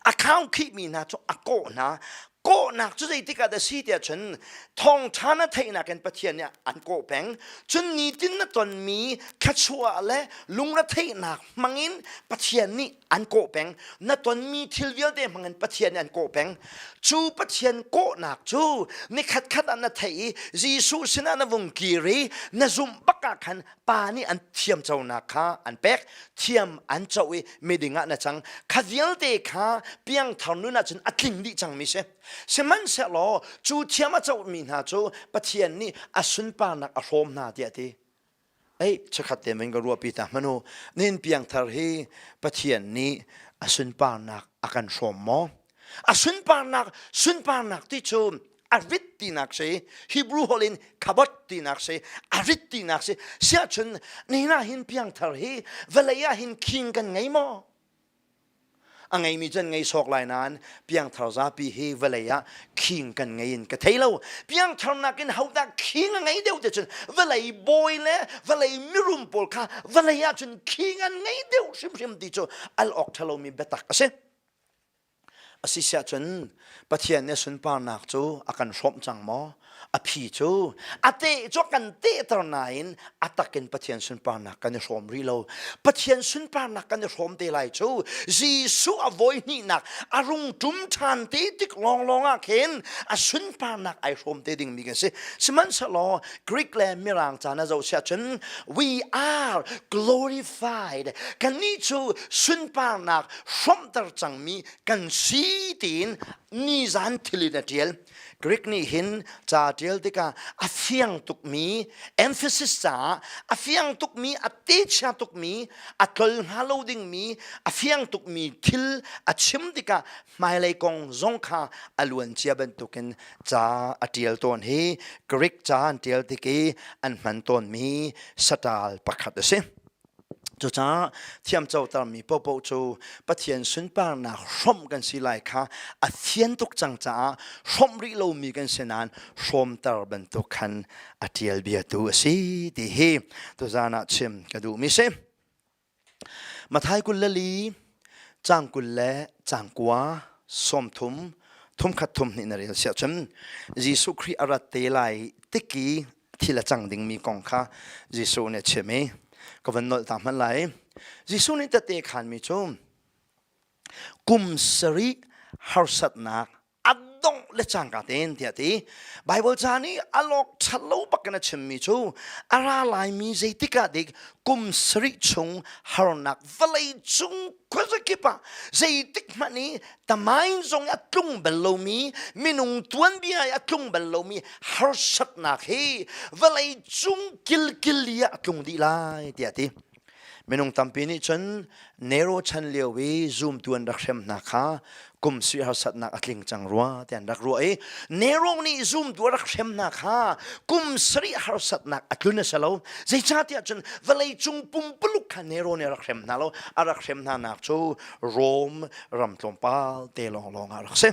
Account khihmi hna cu a kawh hna. Kawhnak cu zeitik ah dah si tiah cun thawngṭha na theihnak in Pathian nih an kawh peng. Cun nitin na tonmi thluachuah le lungretheihnak hmangin Pathian nih an kawh peng. Na tonmi thil vialte hmangin Pathian nih an kawh peng. Cu Pathian kawhnak cu ni khatkhat ah na theih i Jesuh sinah na vung kir i na zumh bak ah khan pa nih an thiamconak kha an pek thiam an co i miding ah na cang kha vialte kha piangthar nun ahcun a tling dih cangmi si sihmanhsehlaw cu thiam a comi hna cu pathian nih a sunparnak a hrawm hna tiah ti ei chakhat te min ka ruahpi ta manu nin piangthar hi pathian nih a sunparnak a kan hrawm maw A sunparnak sunparnak ti cu a rit tinak si Hebrew holh in khabot tinak si a rit tinak si siahcun nina hin piangthar hi vawlei ah hin khing kan ngei maw a ngeimi can ngei sawk lai nan piangthar zapi hi vawlei ah khing kan ngei in ka thei lo piangthar nakin hodah khing a ngei deuh te cun vawlei bawi le vawlei mirum pawl kha vawlei ah cun khing an ngei deuh hrimhrim ti cu al ok thalomi biatak a si A si siah cun Pathian nih sunparnak cu a kan hrawmh cang maw? A phi cu a teh cu kan tehter nain a takin Pathian sunparnak kan i hrawm rih lo. Pathian sunparnak kan i hrawm te lai cu Jesuh a voi hnihnak a rung ṭum ṭhan te tik lawnglawng ah khin a sunparnak ai hrawm te dingmi kan si. Sihmanhsehlaw Greek le Mirang caan a zoh siah cun we are glorified satisfied kannih cu sunparnak hrawmhter cangmi kan si tiin nizan thilin a ṭial Greek nih hin ca ṭial tikah a fiang tukmi emphasis caah a fiang tukmi a techia tukmi a tlol hnga lo dingmi a fiang tukmi thil a chim tikah hmailei kong zong kha a luancia bantukin ca a ṭial tawn hi Greek ca an ṭial tik i an hman tawnmi saṭal pakhat a si. Cucaah thiamcotermi popo cu Pathian sunparnak hrawmh kan si lai kha a thian tuk cang caah hrawmh rih lomi kan si nain hrawmter bantuk khan a ṭial biatu a si ti hi tuzan ah chim ka duhmi si. Mathai kul le li, cang kul le cang kua, sawmthum, thumkhat thum hnih na rel siah cun Jesuh Khrih a rat te lai tiki thil a cang dingmi kong kha Jesuh nih a chim i ka van nolh ta hmanh lai. Jesuh nih tete khanmi cu kum sarih harsatnak a dongh le cangka ten tiah ti Bible ca nih a lawk ṭhat lo bak in a chimmi cu a ra laimi zeitik ah dik kum sarih chung harnak vawlei cung khuazakip ah zeitik hmanh i tamain zong i a tlung bel lomi minung tuanbia i a tlung bel lomi harsatnak hi vawlei cung kilkil i a tlung dih lai tiah ti Minung tampi nih cun Nero chan lio i zumtu an rak hrem hna kha kum sui harsatnak a tling cang rua ti an rak ruah i Nero nih zumtu a rak hrem hna kha kum sarih harsatnak a tlun a si lo zeicahtiah cun vawleicung pumpuluk kha Nero nih a rak hrem hna lo a rak hrem hnanak cu Rome ram tlawmpal te lawnglawng ah a rak si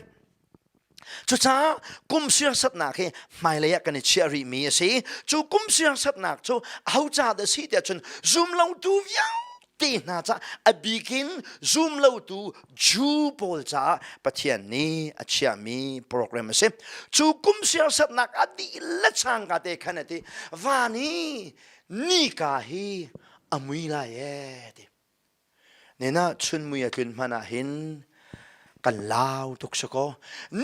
Cucaah kum siarsatnak hi hmailei ah kan i chiah rihmi a si. Cu kum siarsatnak cu ho ca dah si tiah cun zumlotu vialte hna ca a bikin zumlotu Jew pawl caah Pathian nih a chiahmi program a si. Cu kum siarsatnak a dihlak changka te khan a ti van i nika hi a mui lai ee ti. Nina chunmui a tlun hman ah hin kan lau tuk si kaw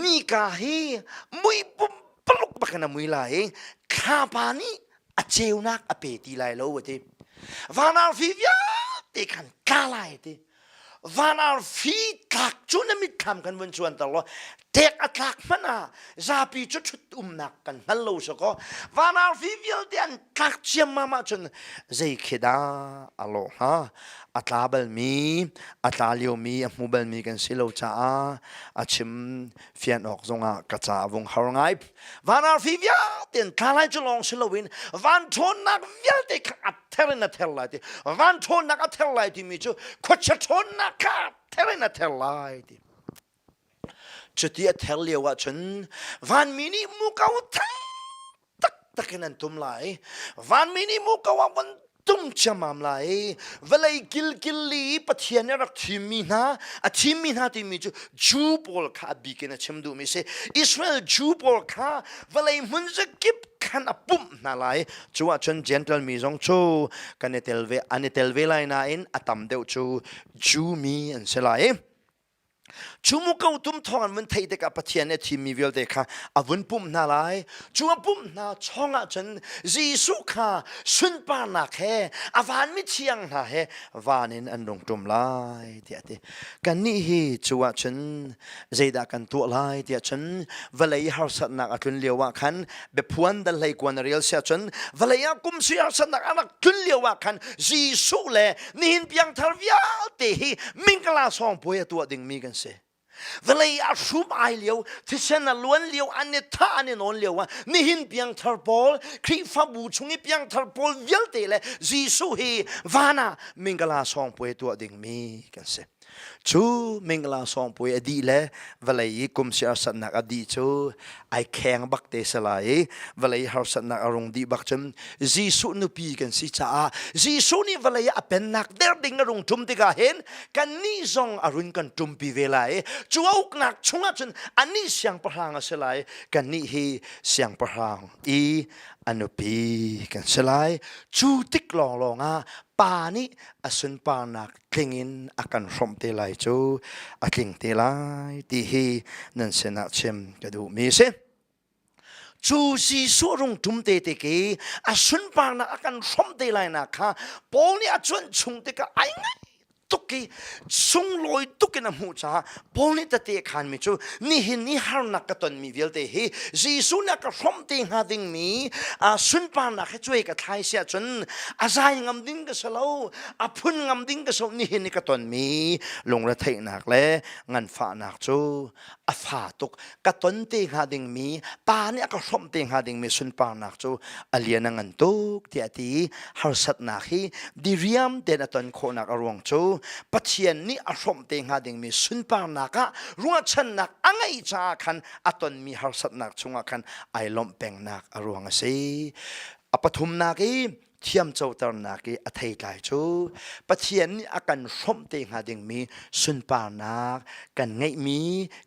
nika hi mui pumpaluk bak in a mui la i thlapa nih a ceunak a pe ti lai lo a ti. Van ar fi vialte khan tla lai a ti. Van ar fi tlak cu na mitthlam kan vun chuanter law tek a tlak hmanh ah zapi cu thut umnak kan hngal lo so ko van arfi vialte an tlak ciammam ahcun zei khi dah a lawh hnga a tla balmi a tla liomi a hmu balmi kan si lo caah a chim fian awk zongah ka ca a vung har ngai van arfi vialte in tla lai cu lawng si loin van ṭhawnnak vialte kha a ther in a ther lai ti van ṭhawnnak a ther lai timi cu khuachia ṭhawnnak kha a ther in a ther lai ti Cuti a ther lio ahcun vanmi nih muko thang taktak in an tum lai. Vanmi nih muko a von tum ciammam lai. Vawlei kilkil li i Pathian nih a rak thimmi hna, a thimmi hna timi cu Jew pawl kha a bik in a chim duhmi a si. Israel Jew pawl kha vawlei hmun zakip khan a pumh hna lai. Cu ahcun Gentle mi zong cu kan i tel ve, an i tel ve lai nain a tam deuh cu Jew mi an si lai. Cu mu ko tum thawng an vun thei tikah Pathian nih a thimmi vialte kha a vun pumh hna lai. Cu a pumh hna chong ah cun Jesuh kha sunparnak he a vanmi thiang hna he van in an rung ṭum lai tiah a ti. Kannih hi cu ah cun zeidah kan tuah lai tiah cun vawlei harsatnak a tlun lio ah khan Biaphuan dal hlei kuan rial sia cun vale ah kum si arsannak anak tlun lio ah khan Jesuh le nihin piangthar vialte hi mingkala sawng puai atuah ding mi kan si vale a hrum ai lio thisen a luan lio an i tha an i non lio ah nihin piangthar pawl khrihfabu chung i piangthar pawl vialte le Jesuh hi vana mingkala sawng puai tuah ding mi kan si Cu mingla sawngpui a dih le vawlei i kum si harsatnak a dih cu ai kheng bak te se lai i vawlei harsatnak a rung dih bak cun Jesuh nupi kan si caah Jesuh nih vawlei ah a pennak der ding a rung ṭum tikah hin kannih zong a run kan ṭumpi ve lai i cu a uknak chungah cun anih siangpahrang a si lai kannih hi siangpahrang i a nupi kan si lai cu tik lawnglawng ah pa nih a sunparnak tling in a kan hrawmh te lai cu a tling te lai ti hi nan sinah chim ka duhmi si cu Jesuh rung ṭum te te ke a sunparnak a kan hrawmh te lai nak kha Paul nih a cuanh chung tikah ai ngai tuk i sunglawi tuk in a hmuh caah Paul nih tete khanmi cu nihin ni harnak ka tonmi vialte hi Jesuh nih ka hrawmh te hnga dingmi a sunparnak he cuai ka thlai si ahcun a zai ngam ding ka si lo a phun ngam ding ka si lo nihin ni ka tonmi lungretheihnak le nganfahnak cu a fa tuk ka ton te hnga dingmi pa nih a ka hrawmh te hnga dingmi sunparnak cu a lian a ngan tuk tiah ti harsatnak hi diriam tein a ton khawhnak a ruang cu Pathian nih a hrawmh te hnga dingmi sunparnak ah ruahchannak a ngeih caah khan a tonmi harsatnak chungah khan ai lawmh pengnak a ruang a si a pathumnak i thiamcoternak i a thei tlai cu pathian nih a kan hrawmh te hnga dingmi sunparnak kan ngeihmi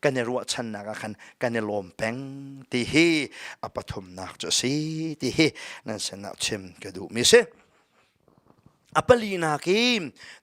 kan i ruahchannak ah khan kan i lawm peng ti hi a pathumnak cu a si ti hi nan sinah chim ka duhmi a si a palinak i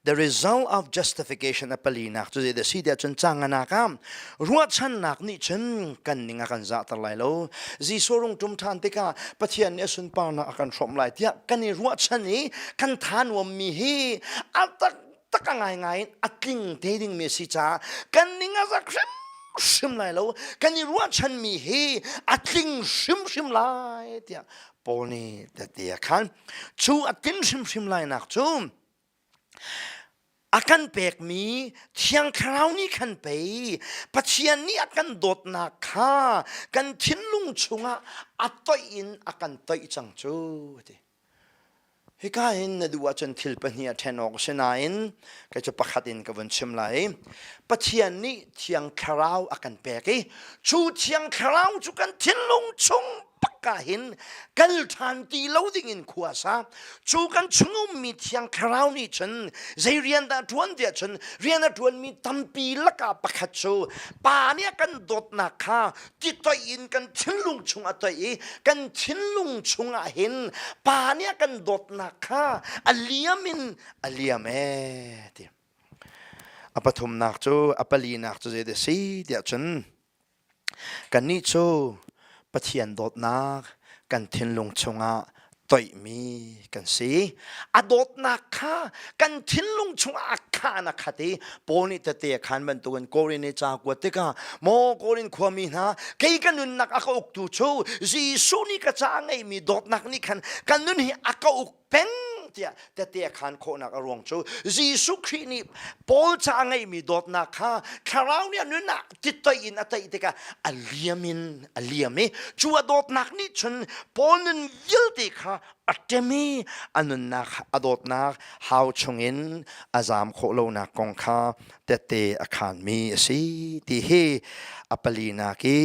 The result of justification a palinak cu zeidah si tiah cun canganak ah ruahchannak nih cun kan ning a kan zahter lai lo Jesuh rung ṭum ṭhan tikah Pathian nih a sunparnak a kan hrawm lai tiah kan i ruahchan i kan than mi hi a tak tak a ngaingai in a tling te ding mi si caah kan ning a zak hrim hrim lai lo kan i ruahchan mi hi a tling hrimhrim lai tiah Paul nih tati a khan chu a tin hrimhrim lainak cu a kan pekmi thiang thlarau nih khan pei Pathian nih a kan dawtnak kha kan thinlung chungah a toih in a kan toih cang cu ti hika hin na duh ahcun thil pahnih a ṭhen awk a si nain kei cu pakhat in ka vun chim lai Pathian nih thiang thlarau a kan pek i cu thiang thlarau cu kan thinlung chung takka hin kal ṭhan ti lo dingin khua sa cu kan chung ummi thiang thlarau nih cun zei rian dah ṭuan tiah cun rian a ṭuanmi tampi laka pakhat cu pa nih a kan dawtnak kha titoih in kan thinlung chung a toih i kan thinlung chungah hin pa nih a kan dawtnak kha a liam in a liam e ti a pathumnak cu a palinak cu zeidah a si tiah cun Kannih cu Pathian dawtnak kan thinlung chungah toihmi kan si. A dawtnak kha kan thinlung chungah a khan a khat i Paul nih tete a khan bantukin Korin i ca kuat tikah maw Korin khuami hna kei ka nunnak a ka uktu cu Jesuh nih ka ca a ngeihmi dawtnak nih khan ka nun hi a ka uk peng tiah tete khan khawhnak a ruang cu Jesuh Khrih nih Paul ca ngeimi dawtnak kha thlarau nih nun ah titoi in a tei tikah a liam in a liam i cu a dawtnak nih cun Paul nun vialte kha a ṭem i a nunnak a dawtnak hau chungin a zaam khawh lonak kong kha tete a khanmi a si ti hi a pali nak i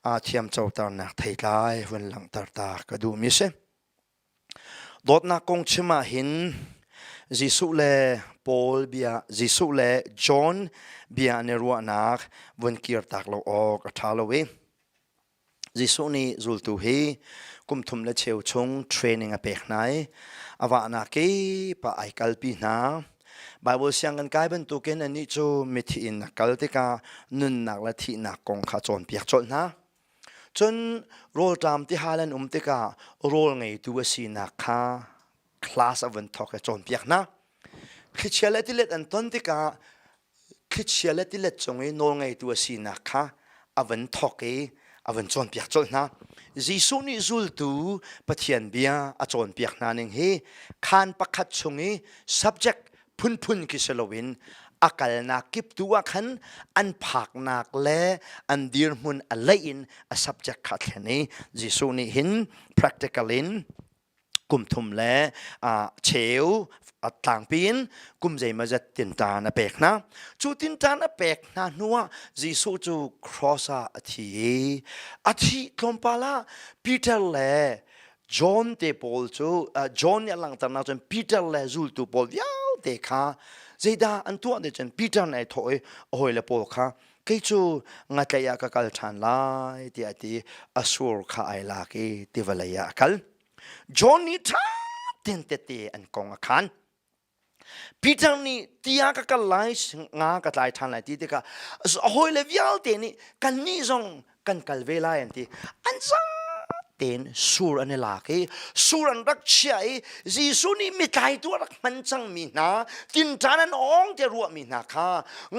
aa thiamcoternak theitlai hun langhter ta ka duhmi a si. Dawtnak kong chim ahhin Jesuh le Paul bia Jesuh le John bia an i ruahnak vun kirtak lo awk a ṭha lo i Jesuh nih zultu hi kum thum le cheu chung training a pek hna i a wahnak i pa ai kalpi hna. Baibal siang kan kai bantukin anih cu mithi in a kal tikah nunnak le thihnak kong kha cawnpiak colh hna. Cun rawlṭam tihal an um tikah rawl ngeitu a sinak kha class a vun thawk i cawnpiak hna. Thlichia le tilet an ton tikah thlichia le tilet cung i nawl ngeitu a sinak kha a vun thawk i a vun cawnpiak colh hna. Jesuh nih zultu Pathian bia a cawnpiak hna ning hi khaan pakhat chung i subject phunphun khi si loin a kalnak kip tu ah khan an phaknak le an dirhmun a leih in a subject kha thlen i Jesuh nih hin practical in kum thum le uh, cheu a tlangpi in kum zeimazat tintaan a pek hna cu tintaan a pek hna hnu ah Jesuh cu cross ah a thi i a thi tlawmpal ah Peter le John te pawl cu John nih a langhter nak cun Peter le zultu pawl vialte kha zeidah an tuah ni cun Peter nih ai thawh i a hawile pawl kha kei cu ngatlaih ah ka kal ṭhan lai tiah ti a sur kha ai lak i tivawlei ah a kal. John nih ṭha tein tete an kong a khan. Peter nih ti a ka kal lai nga ka tlai ṭhan lai ti tikah a hawile vialte nih kannih zong kan kal ve lai an ti. An zang tein sur an i lak i sur an rak chiah i Jesuh nih mitlaitu a rak hman cangmi hna tinṭan an awng tiah ruahmi hna kha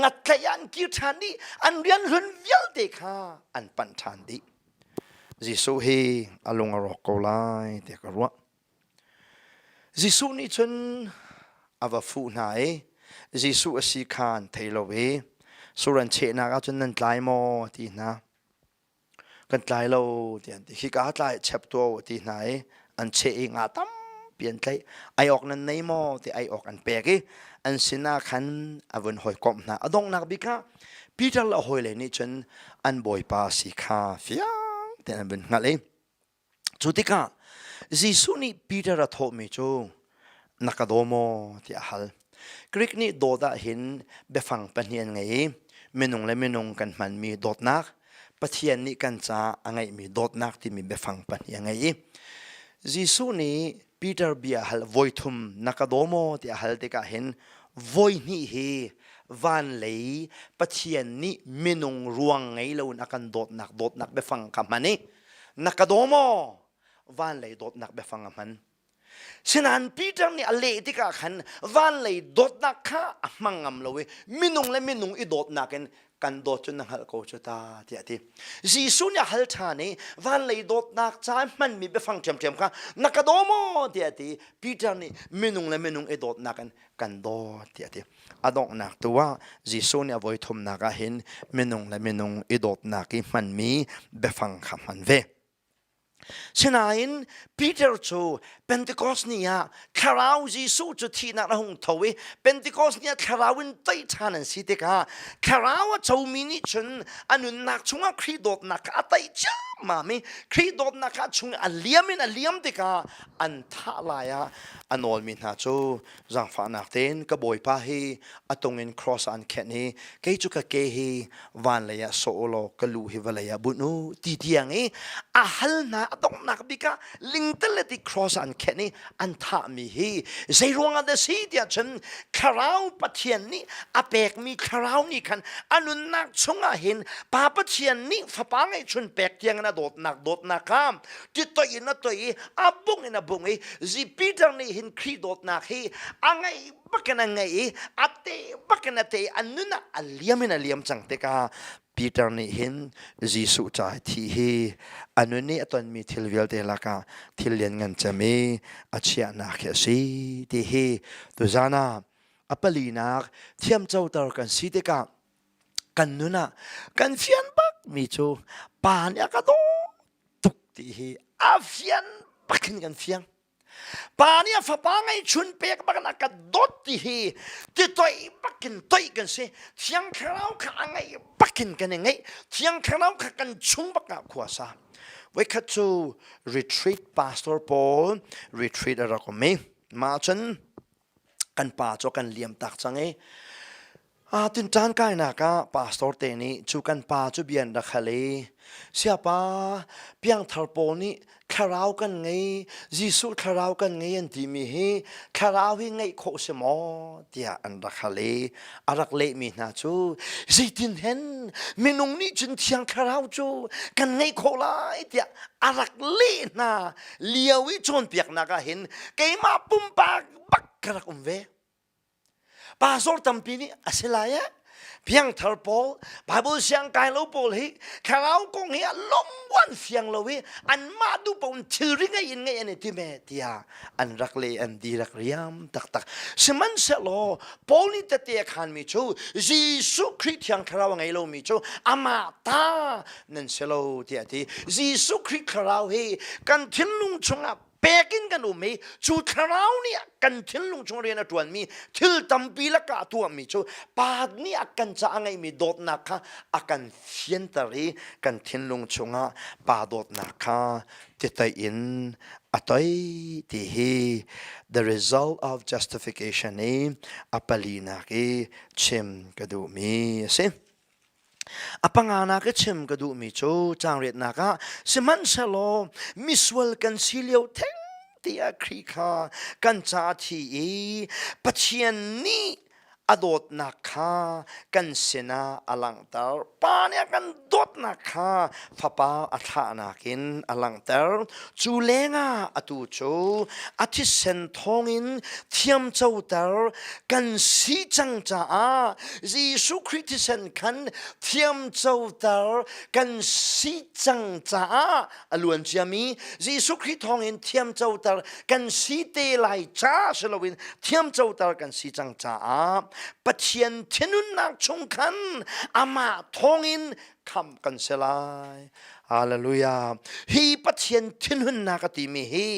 ngattlaih ah an kir ṭhan i an rian hlun vialte kha an panh ṭhan dih. Jesuh hi a lung a rawk ko lai tiah ka ruah. Jesuh nih cun a va fuh hna i Jesuh a si kha an thei lo i suran chehnak ah cun nan tlai maw a ti hna. Kan tlai lo tiah an ti. Hika tlai chep tuah u a ti hna i an cheh i nga tampi an tlaih. Ai awk nan nei maw ti ai awk an pek i an sinah khan a vun hawikomh hna. A donghnak bik ah Peter le a hawile nih cun an Bawipa si kha fiang tein an vun hngalh i Cu tikah Jesuh nih Peter a thawhmi cu na ka daw maw ti a hal. Greek nih dawt ah hin biafang pahnih an ngei i minung le minung kan hmanmi dawtnak, Pathian nih kan caah a ngeihmi dawtnak timi biafang pahnih a ngei i Jesuh nih Peter bia hal voi thum na ka daw maw ti a hal tikah hin voi hnih hi van lei Pathian nih minung ruang ngei loin a kan dawtnak dawtnak biafang kha hman i na ka daw maw van lei dawtnak biafang a hman sinain Peter nih a leh tikah khan van lei dawtnak kha a hmang ngam lo i minung le minung i dawtnak in kan dawt cu na hngalh ko cu ta tiah ti Jesuh nih a hal ṭhan i van lei dawtnak ca i hmanmi biafang ṭhiamṭhiam kha na ka daw maw tiah ti Peter nih minung le minung i dawtnak in kan dawt tiah ti a donghnak tu ah Jesuh nih a voi thumnak ah hin minung le minung i dawtnak i hmanmi biafang kha hman ve Sinain Peter cu Pentecost ni ah thlarau Jesuh cu thihnak a hung tho i Pentecost ni ah thlarau in tei ṭhan an si tikah thlarau a comi nih cun a nunnak chungah Khrih dawtnak kha a tei ciammam i Khrih dawtnak kha a chung i a liam in a liam tikah an thah lai ah a nawlmi hna cu zangfahnak tein ka bawipa hi a tungin cross an khenh i kei cu ka ke hi van lei ah sawh u law ka lu hi vawlei ah bunh u ti tiang i a hal hna a donghnak bik ah lingtel le ti cross an khenh i an thahmi hi zei ruangah dah si tiah cun thlarau pathian nih a pekmi thlarau nih khan a nunnak chungah hin pa pathian nih fapa ngeihchun pek tiangin a dawtnak dawtnak kha titoih in a toi i a bung in a bung i zi Peter nih hin Khrih dawtnak hi a ngei bakin a ngei i a te bakin a te i a nun ah a liam in a liam cang tikah Peter nih hin Jesuh ca thi hi a nun i a tonmi thil vialte lakah thil lianngan cem i a chiahnak hi a si ti hi tuzan ah a palinak thiamcoter kan si tikah kan nun ah kan fian bak mi cu pa nih a ka daw tuk ti hi a fian bak in kan fiang pa nih a fapa ngeihchun pek bak in a ka dawt ti hi ti toih bak in toih kan si thiang thlarau kha a ngeih bak in kan i ngeih thiang thlarau kha kan chung bak ah khua sa voikhat cu retreat pastor paul retreat a rak um i mah cun kan pa cu kan liam tak cang i aa tin ṭan kainak ah pastor te nih cu kan pa cu bia an rak hal i siapa piangthar pawl nih thlarau kan ngei Jesuh thlarau kan ngei an timi hi thlarau hi ngeih khawh si maw tiah an rak hal i a rak lehmi hna cu zeitin hen minung nih cun thiang thlarau cu kan ngei khawh lai tiah a rak leh hna lio i cawnpiaknak ah hin keimah pumpak bak ka rak um ve pastor tampi nih a si lai eh piangthar pawl bible siang kai lo pawl hi thlarau kong hi lomwan fiang lo i anmah du pawn thilri ngei in ngei an i time tia an rak le an di rak riam taktak sihmanhsehlaw paul nih tete khan mi cu Jesuh Christ thiang thlarau ngei lo mi cu ama ta nan si lo tiah ti Jesuh Khrih thlarau hi kan thinlung chungah pek in kan um i cu thlarau nih kan thinlung chung rian a ṭuanmi thil tampi la ka tuahmi cu pa nih a kan ca a ngeihmi dawtnak kha a kan fianter i kan thinlung chungah pa dawtnak kha titei in a toi ti hi the result of justification i a palinak i chim ka duhmi a si. A panga nak i chim ka duhmi cu caangriatnak ah sihmanhsehlaw misual kan si lio theng tiah Khrih kha kan caah thi i Pathian nih a dawtnak kha kan sinah a langhter. Pa nih a kan dawtnak kha fapa a thlahnak in a langhter. Cu lengah atu cu a thisen thawngin thiamcoter kan si cang caah Jesuh Khrih thisen khan thiamcoter kan si cang caah a luan ciami Jesuh Khrih thawngin thiamcoter kan si te lai ca si loin thiamcoter kan si cang caah Pathian thinhunnak chung khan amah thawngin kham kan se lai hallelujah hi pathian thinhunnak a timi hi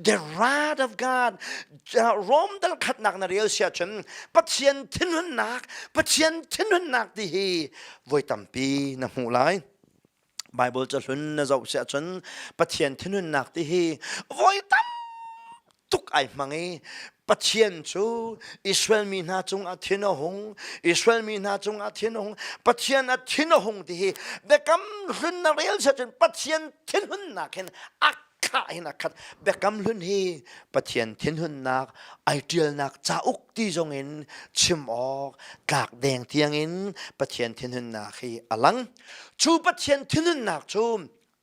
the rod of god rom dal khatnak na rel sia chun pathian thinhunnak pathian thinhunnak ti hi voi tampi na hmu lai bible ca hlun na zoh sia chun pathian thinhunnak ti hi voi tam tuk ai hmang i Pathian cu Israel mi hna cungah thin a hung Israel mi hna cungah thin a hung Pathian a thin a hung ti hi biakam hlun na rel set cun Pathian thinhunnak hin a khah hin a khat biakam hlun hi Pathian thinhunnak ai ṭialnak cauk ti zong in chim awk tlak deng tiang in Pathian thinhunnak hi a lang cu Pathian thinhunnak cu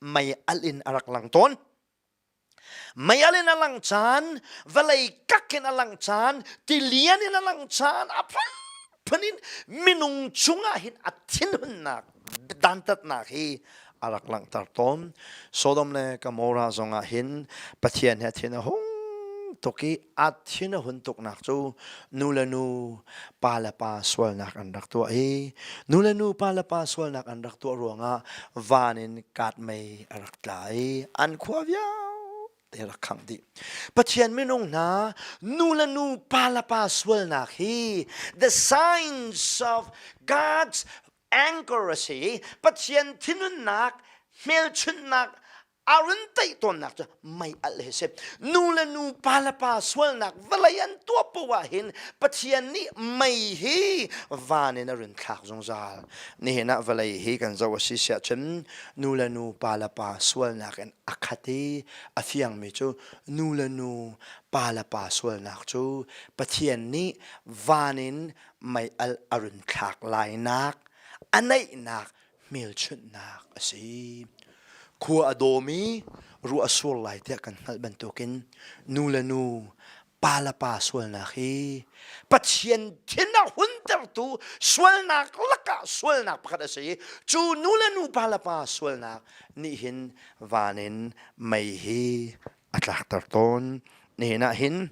mei alh in a rak lang tawn Mei al in a lang caan, vawlei kak in a lang caan, tilian in a lang caan, a phaphan in minung chungah hin a thinhunnak dantatnak hi a rak langhter tawn. Sodom le Gomorrah zongah hin Pathian he thin a hung tuk i a thin a hun tuknak cu nu le nu, pa le pa sualnak an rak tuah i nu le nu, pa le pa sualnak an rak tuah ruangah van in katmei a rak tlai an khua vialte rak khang dih pathian minung hna nu le nu pa le pa sualnak hi the signs of god's anchor a si pathian thinhunnak hmelchunhnak arun taih tawnnak cu mei alh he si nu le nu pa le pa sualnak vawlei an tuah poah hin Pathian nih mei hi van in a run thlak zungzal nihin ah vawlei hi kan zoh a si siah cun nu le nu pa le pa sualnak in a khat i a fiangmi cu nu le nu pa le pa sualnak cu Pathian nih van in mei al a run thlak lainak a neihnak hmelchunhnak a si. Khua a dawm i ruah a sur lai tiah kan hngalh bantukin nu le nu pa le pa sualnak hi Pathian thin a huntertu sualnak lakah sualnak pakhat a si i cu nu le nu pa le pa sualnak nih hin van in mei hi a tlakter tawn. Nihin ah hin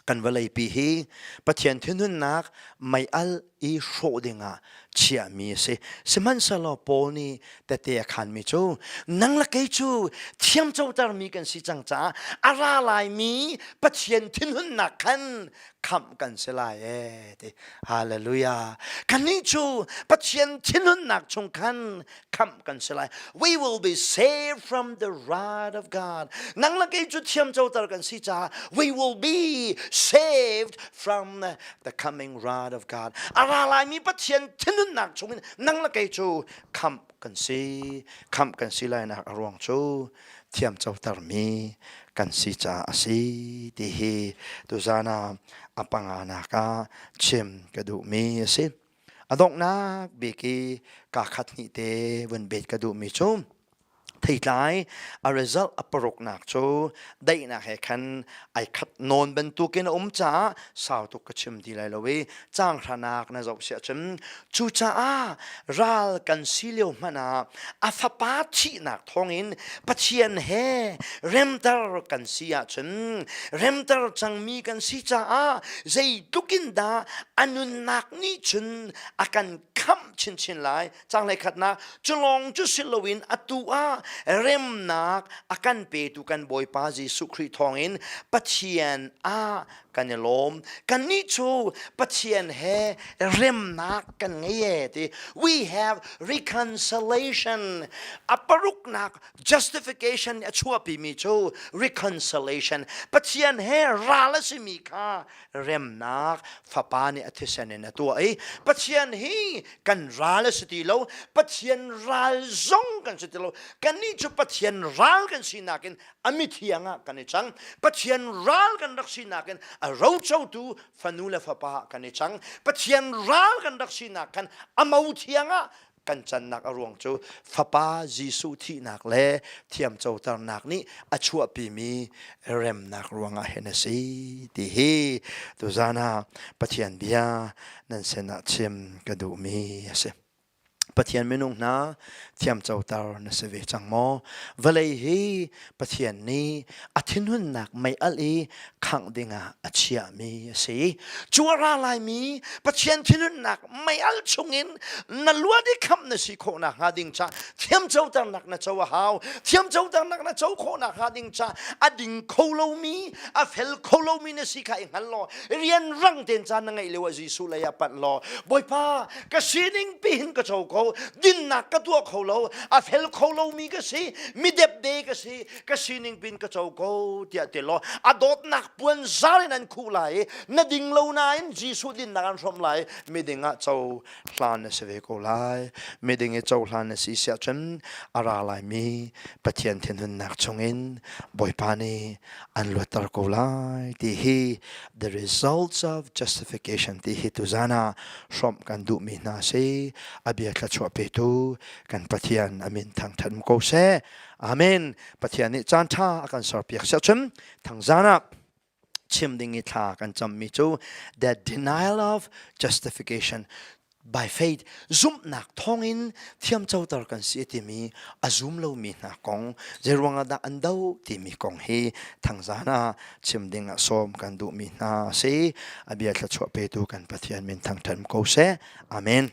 Kan vawleipi hi Pathian thinhunnak mei al i hrawh dingah chiahmi a si. Sihmanhsehlaw Paul nih tete a khanmi cu nang le kei cu thiamcotermi kan si cang caah a ra laimi Pathian thinhunnak khan khamh kan si lai ee ti. Hallelujah. Kannih cu Pathian thinhunnak chung khan khamh kan si lai we will be saved from the wrath of God nang la kei cu thiam coter kan si caah we will be saved from the coming wrath of God a ra lai mi Pathian thinhunnak chungin nang la kei cu khamh kan si khamh kan si lai nak a ruang cu thiam coter mi kan si ca a si ti hi tuzana apanga naka chim ka duh mi a si A donghnak bik i ka khat hnih te vun bet ka duhmi cu theitlai a result a paruknak cu daihnak he khan ai khat nawn bantukin a um caah sau tuk ka chim ti lai lo i canghlanak na zoh siah cun cucaah ral kan si lio hmanh ah a fapa thihnak thongin pathian he remter kan si ahcun remter cangmi kan si caah zeitlukin dah a nunnak nih cun a kan khamh chinchin lai canglei khatnak culong cu si loin atu ah remnak a kan petu kan bawipa jesuh khrih thawngin pathian ah kan i lawm kannih cu pathian he remnak kan ngei e ti we have reconciliation a paruknak justification a chuahpi mi cu reconciliation pathian he ral a simi kha remnak fapa nih a thisen in a tuah i pathian hi kan ral a si ti lo pathian ral zong kan si ti lo kannih cu pathian ral kan sinak in a mithiang ah kan i chang pathian ral kan rak sinak in a rocotu fanu le fapa ah kan i chang pathian ral kan rak sinak khan a mo thiang ah kan cannak a ruang cu fapa Jesuh thihnak le thiamcoternak nih a chuahpimi remnak ruangah hin a si ti hi tuzan ah Pathian bia nan sinah chim ka duhmi a si. Pathian minung hna thiamcoter na si ve cang maw? Vawlei hi Pathian nih a thinhunnak mei alh i khangh dingah a chiahmi a si. Cu a ra laimi Pathian thinhunnak mei alh chungin na luat i khamh na si khawh nakhnga ding ca thiamcoternak na co a hau. Thiamcoternak na co khawh nakhnga ding ca a ding kho lomi, a fel kho lomi na si kha i hngal law rian rang tein ca na ngeih lio ah Jesuh lei ah panh law Bawipa ka sining pihin ka cho ko dinnak ka tuah kho lo a fel kho lomi ka si midepde ka si ka sining pin ka cho ko tiah te lo a dawtnak puan zal in an khu lai na ding lo nain Jesuh dinnak an hrom lai miding ah cho hlan na si ve ko lai miding i cho hlan na si siah cun a ra lai mi Pathian thinhunnak chungin Bawipa nih an luatter ko lai ti hi The results of justification ti hi tu zan ah hrawm kan duh mi hna si abia thluachuah pe tu kan Pathian amin thang thatm ko se amen Pathian nih caan tha a kan ser piak se chun thang zan ah chim ding i thla kan cham mi cu the denial of justification by faith zumhnak thawngin thiamcoter kan si timi a zum lomi hna kong zeiruangah dah an do timi kong hi thangzan ah chim ding ah sawm kan duhmi hna si a bia thluachuah petu kan pathian min thangthan ko seh amen